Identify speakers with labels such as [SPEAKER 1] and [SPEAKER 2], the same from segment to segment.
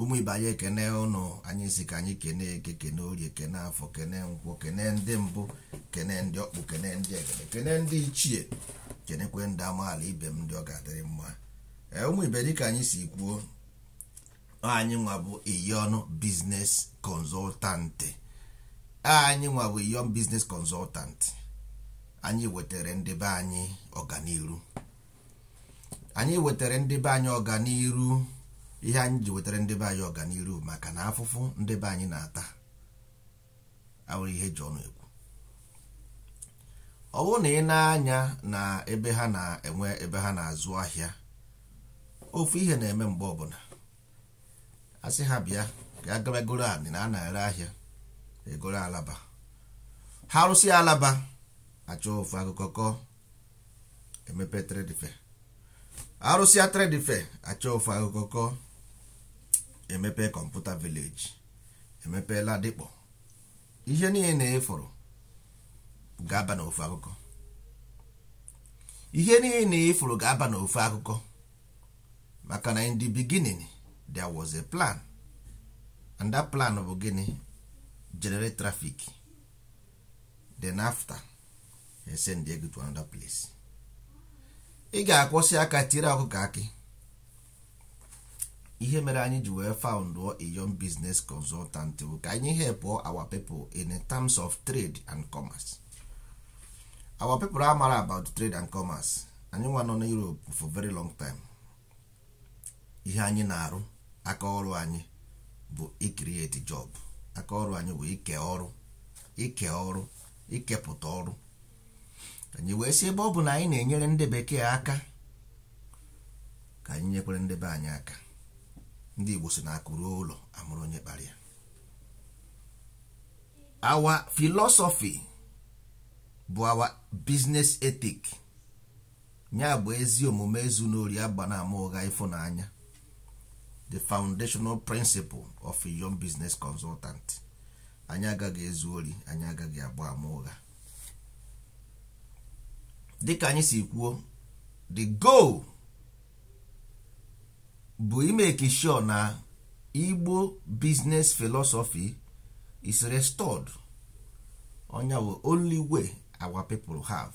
[SPEAKER 1] ụmụ ibe anyị ekene ụnụ anyị si ka anyị kene eke kene orie kene afọ kene nkwọ kene ndị mbụ kene ndị ọkpụ kene ndị egede kene ndị ichie kenekwe ndị amaala ibe m ndị ọ ga-adịrị mma ee ụmụ ibe dịka anyị si kwuo anyị nwa bụ Iyon Business Consultant anyị nwa bụ Iyon Business Consultant anyị wetara ndị be anyị ọganiru anyị wetara ndị be anyị ọganiru ihe anyị ji wetara ndị be anyị ọganiru maka na afụfụ ndị be anyị na-ata awụrọ ihe e ji ọnụ ekwu ọ bụrụ na i nee anya na ebe ha na-enwe ebe ha na-azụ ahịa ofu ihe na-eme mgbe ọbụla asị ha bịa ka a gabagoro anị na a na-ere ahịa egoro alaba ha rụsị alaba achọ ofu akụkọ kọọ emepe trade fair arụsịa trade fair achọ ofu akụkọ kọọ emepe computer village emepe Ladipo ihe niile na ị fụrụ ga-aba na ofu akụkọ ihe niile na ị fụrụ ga-aba n'ofu akụkọ maka na in the beginning there was a plan and that plan bụ gịnị generate traffic then after send gị to another place ị ga-akwọsị aka tiere ọkụkọ akị ihe mere anyị ji wee found Iyon Business Consultant bụ ka anyị help our people in terms of trade and commerce our people amara about trade and commerce anyị nwa nọ na Europe for very long time ihe anyị na-arụ aka ọrụ anyị bụ icreate job aka ọrụ anyị bụ ike ọrụ ike ọrụ ikepụta ọrụ anyị wee sị ebe ọ bụ na anyị na-enyere ndị bekee aka ka anyị nyekwere ndị be anyị aka ndị Igbo si na akụ ruo ụlọ amụrụ onye kpara ya our philosophy bụ our business ethic nya bụ ezi omume ezuna ori agbana ama ụgha ịfụnanya the foundational principle of Iyon Business Consultant anyị agaghị ezu ori anyị agaghị agba ama ụgha dịka anyị si kwuo the goal bụ imake sure na Igbo business philosophy is restored ọ nya bụ only way our people have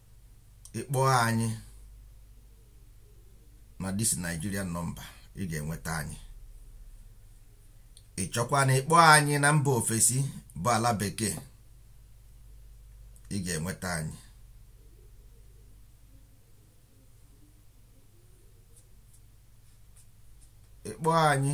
[SPEAKER 1] ị kpọọ anyị na this Nigerian number ị ga-enweta anyị ị chọkwa na ịkpọ anyị na mba ofesi bụ ala bekee ị ga-enweta anyị ị kpọọ anyị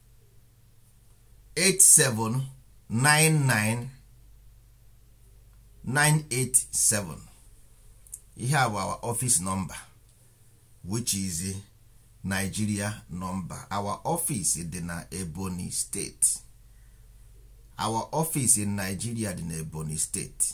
[SPEAKER 1] 87 99 987 ihe a bụ our office number which is Nigeria number our office dị na Ebonyi State our office in Nigeria dị na Ebonyi State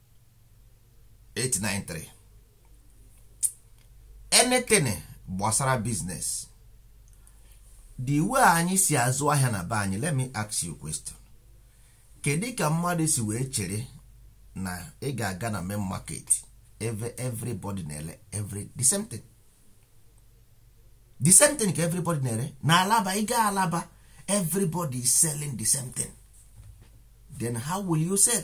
[SPEAKER 1] 893 anything gbasara business the way anyị si azụ ahịa na be anyị let me ask you question kedu ka mmadụ si wee chere na ị ga-aga na main market ebe everybody na-ele every the same thing the same thing ka everybody na-ele na Alaba ị gaa Alaba everybody is selling the same thing then how will you sell?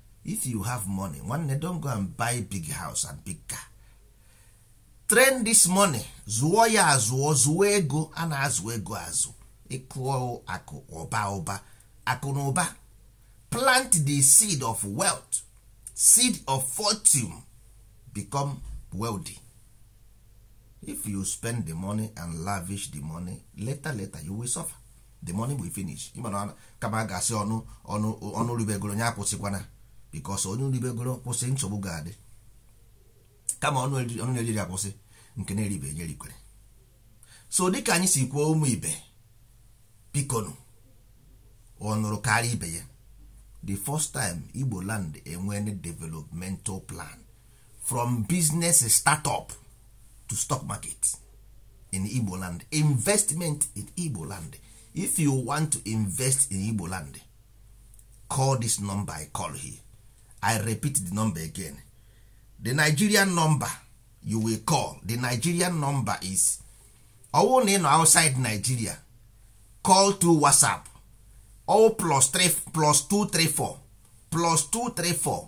[SPEAKER 1] if you have money nwanne don go and buy big house and big car train this money zụọ ya azụọ zụọ ego a na-azụ ego azụ ịkụọ akụ ụba ụba akụ na ụba plant the seed of wealth seed of fortune become wealthy if you spend the money and lavish the money later later you will suffer the money will finish ị ma na kama a ga-asị ọnụ ribegoro nya akwụsịkwana because onye ribegoro kwụsị nsogbu ga-adị kama ọnụ na-eri eri akwụsị nke na-eribe nya erikwere so dịka anyị si kwuo ụmụ ibe bikonu ọ nụrụ kara ibe ya the first time Igbo land enwere developmental plan from business startup to stock market in igbo land investment in igbo land if you want to invest in igbo land call this number i call here i repeat the number again the nigerian number you will call the nigerian number is ọwụ na ị nọ outside nigeria call to whatsapp all plus 3 plus 234 plus 234